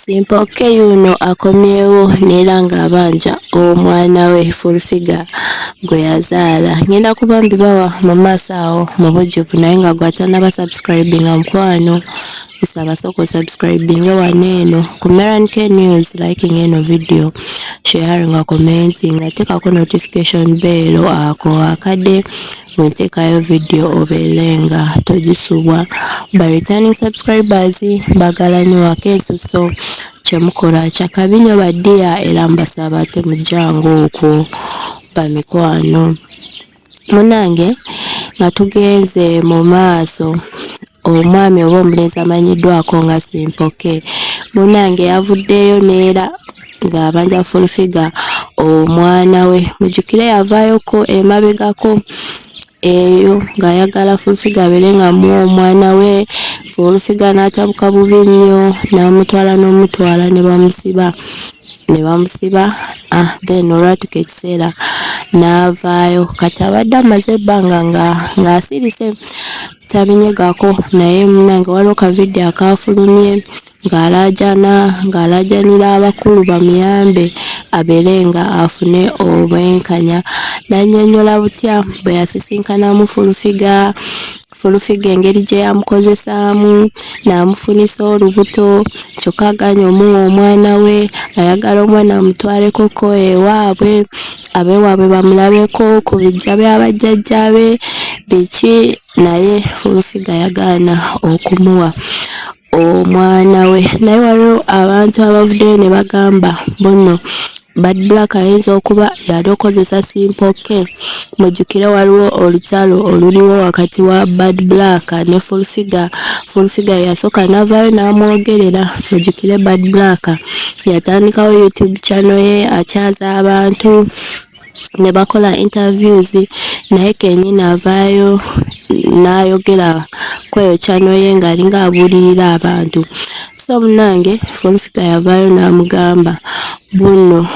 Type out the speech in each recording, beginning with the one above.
Simpoke yuuno akomyewo neera ng'abanja omwana we Full Figure gwe yazaala. Ngenda kuba mbibawa mu maaso awo mu bujjuvu naye nga gwe atanaba subscribinga mukwano kusaba sooka osubscribinge wano eno ku Meran K News liking eno video sharing nga commenting atekako notification bell ako akade bwentekayo video obeele nga tojisubwa ba returning subscribers bagala nyo wakeso so kyemukola kyakabi nyo ba dear era mbasaba temujanga okwo bamikwano munange nga tugenze mu maaso omwami oba omulenzi amanyiddwako nga Simpoke munnange yavuddeyo neera ng'abanja fulfiga omwana we mujjukire yavaayoko emabegako eyo ng'ayagala fulfiga abeere nga mu omwana we fulfiga n'atabuka bubi nnyo n'amutwala n'omutwala ne bamusiba ne bamusiba ah, then olwatuka ekiseera n'avaayo kati abadde amaze ebbanga ng'asirise nga tabinyegako naye munange waliwo ka video akaafulumye ng'alaajana ng'alaajanira abakulu bamuyambe abeere nga afune obwenkanya n'annyonnyola butya bwe yasisinkanamu fulufiga fulufiga engeri gye yamukozesaamu n'amufunisa olubuto kyokka aganya omuwa omwana we ayagala omwana amutwalekoko ewaabwe abeewaabwe bamulabeko ku biggya bya bajjajjaabe biki naye Fuusiga yagaana okumuwa omwana we naye waliwo abantu abavuddeyo ne bagamba bunno bad black ayinza okuba yali okozesa simpoke mujjukire waliwo olutalo oluliwo wakati wa bad black ne fulfiga fulfiga yasooka navaayo n'amwogerera mujjukire bad black yatandikawo youtube channel ye akyaza abantu ne bakola interviews naye kenyini avaayo n'ayogera kweyo channel ye ng'alinga abuulirira abantu so munange folufiga yavaayo n'amugamba buno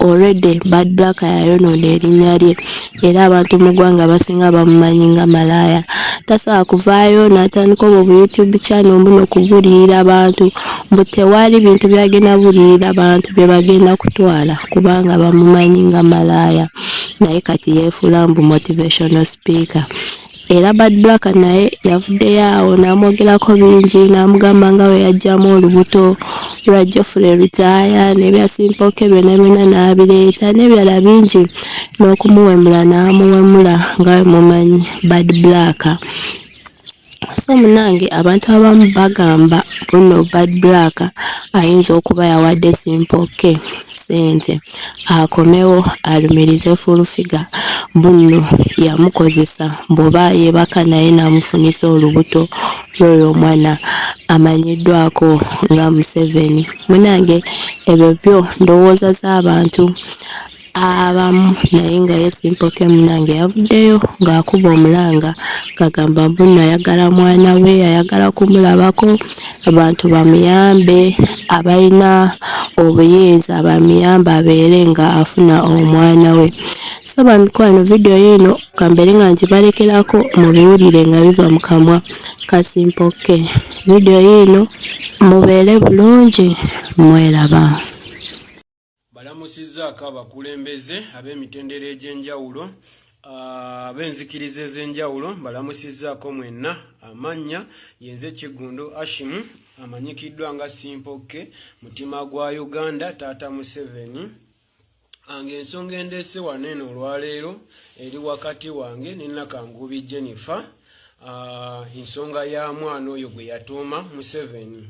Already Bad Black yayonoona erinnya lye era abantu mu ggwanga abasinga bamumanyi nga malaaya. Tasobola kuvaayo n'atandika obwo bu YouTube channel mbuno kubuliira abantu mbu tewali bintu byagenda buliira bantu bye bagenda kutwala kubanga bamumanyi nga malaaya naye kati yeefuula mbu motivational speaker. era Bad Black naye yavuddeyo awo n'amwogerako bingi n'amugamba nga bwe yaggyamu olubuto lwa Geoffrey Lutaaya n'ebya Simpooke byonna byonna n'abireeta n'ebirala bingi n'okumuwemula n'amuwemula nga bwe mumanyi Bad Black so munange abantu abamu bagamba buno Bad Black ayinza okuba yawadde Simpooke sente akomewo alumirize fulufiga bunno yamukozesa bwoba yebaka naye namufunisa olubuto lwoyo omwana amanyiddwako nga museveni munange ebyo byo ndowooza z'abantu abamu naye nga ye simpoke munange yavuddeyo ng'akuba omulanga ngagamba bunno ayagala mwana we ayagala kumulabako abantu bamuyambe abalina obuyinza bamuyambe abeere nga afuna omwana we so bamikwano vidiyo yiino kambeere nga ngibalekeraako mubiwulire nga biva mu kamwa kasimpokke vidiyo yiino mubeere bulungi mweraba balamusizzaako abakulembeze ab'emitendera egy'enjawulo ah, ab'enzikiriza ez'enjawulo balamusizzaako mwenna amannya yenze kiggundu ashimu amanyikiddwa nga simpokke mutima gwa uganda taata museveni ange ensonga endeese wano eno olwaleero eri wakati wange ne nakangubi jennifer Ah, ensonga ya mwana oyo gwe yatuuma museveni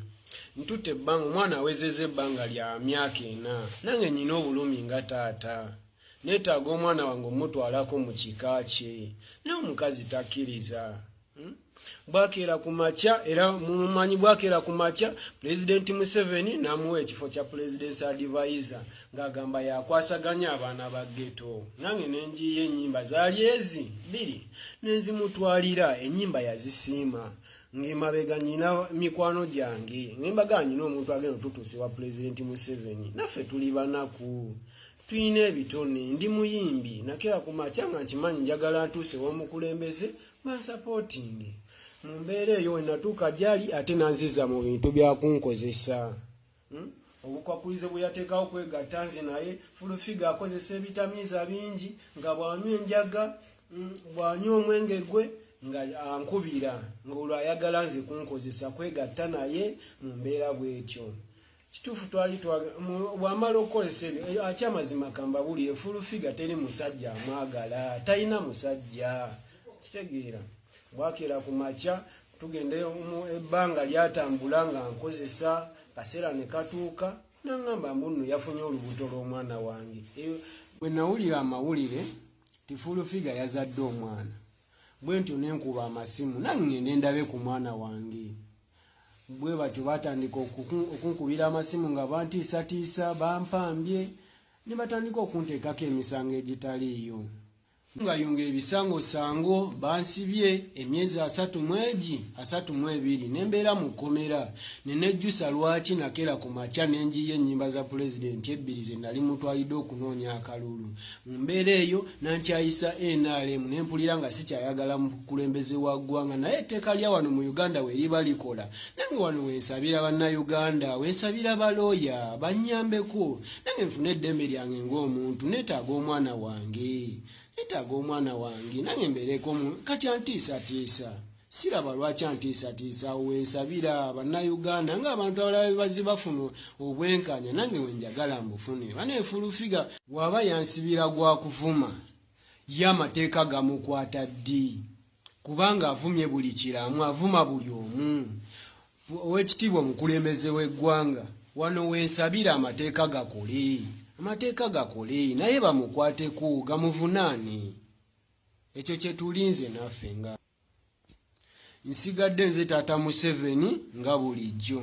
ntutte ebbanga omwana awezeza ebbanga lya myaka ena nange nyina obulumi nga taata neetaaga omwana wange omutwalako mu kika kye naye omukazi takkiriza hmm? bwakeera ku makya era mumumanyi bwakeera ku makya pulezidenti museveni n'amuwa ekifo kya pulezidenti adivaiza ng'agamba yakwasaganya abaana ba geto nange ne njiiya ennyimba zaali ezi bbiri ne nzimutwalira ennyimba yazisiima ng'emabega nyina mikwano gyange ngembaga nyina omuntu agenda otutuuse wa pulezidenti museveni naffe tuli banaku tulina ebitone ndi muyimbi nakera ku makya nga nkimanyi njagala ntuuse w'omukulembeze mansapootingi mu mbeera eyo wenatuuka gyali ate nanziza mu bintu byakunkozesa Hmm? obukwakulize bwe yateekawo kwegatta nze naye fulufiga akozesa ebitamiiza bingi nga bw'anywa enjaga hmm, bw'anywa omwenge gwe nga ankubira ng'olwo ayagala nze kunkozesa kwegatta naye mu mbeera bw'etyo kituufu twali bw'amala okukozesa ebyo eh, aky amazima kambabuli efulufiga teri musajja amwagala talina musajja kitegeera bwakeera ku makya tugenda ebbanga lyatambula nga nkozesa kaseera ne katuuka nangamba mbu nno yafunye olubuto lw'omwana wange bwe nawulira amawulire tifulufiga yazadde omwana bwe ntyo nenkuba amasimu nangende ndabe ku mwana wange bwe batyo batandika okunkubira amasimu nga bantiisatiisa bampambye ne batandika okunteekako emisango egitaliiyo Ngayunga ebisango sango bansibye emyezi asatu mweji asatu mwebiri nembeera mu kkomera nenejjusa lwaki nakera ku makya nenjiyo ennyimba za pulezidenti ebbiri ze nali mutwalidde okunoonya akalulu mu mbeera eyo nankyayisa nrm nempulira nga sikyayagala mukulembeze wa ggwanga naye etteeka lya wano mu uganda weriba likola nange wano wensabira bannayuganda wensabira balooya bannyambeko nange nfune eddembe lyange ngaomuntu netaaga omwana wange netaaga omwana wange nange mbeereko kati antiisatiisa siraba lwaki antiisatiisa wensabira bannayuganda ngaabantu abalala bebazze bafuna obwenkanya nange wenjagala mbufune banefulufiga waaba yansibira gwakuvuma ye amateeka gamukwata ddi kubanga avumye buli kiramu avuma buli omu owekitiibwa omukulembeze w'eggwanga wano wensabira amateeka gakole amateeka gakole naye bamukwateko gamuvunaane ekyo kyetulinze naffe nga nsigadde nze taata museveni nga bulijjo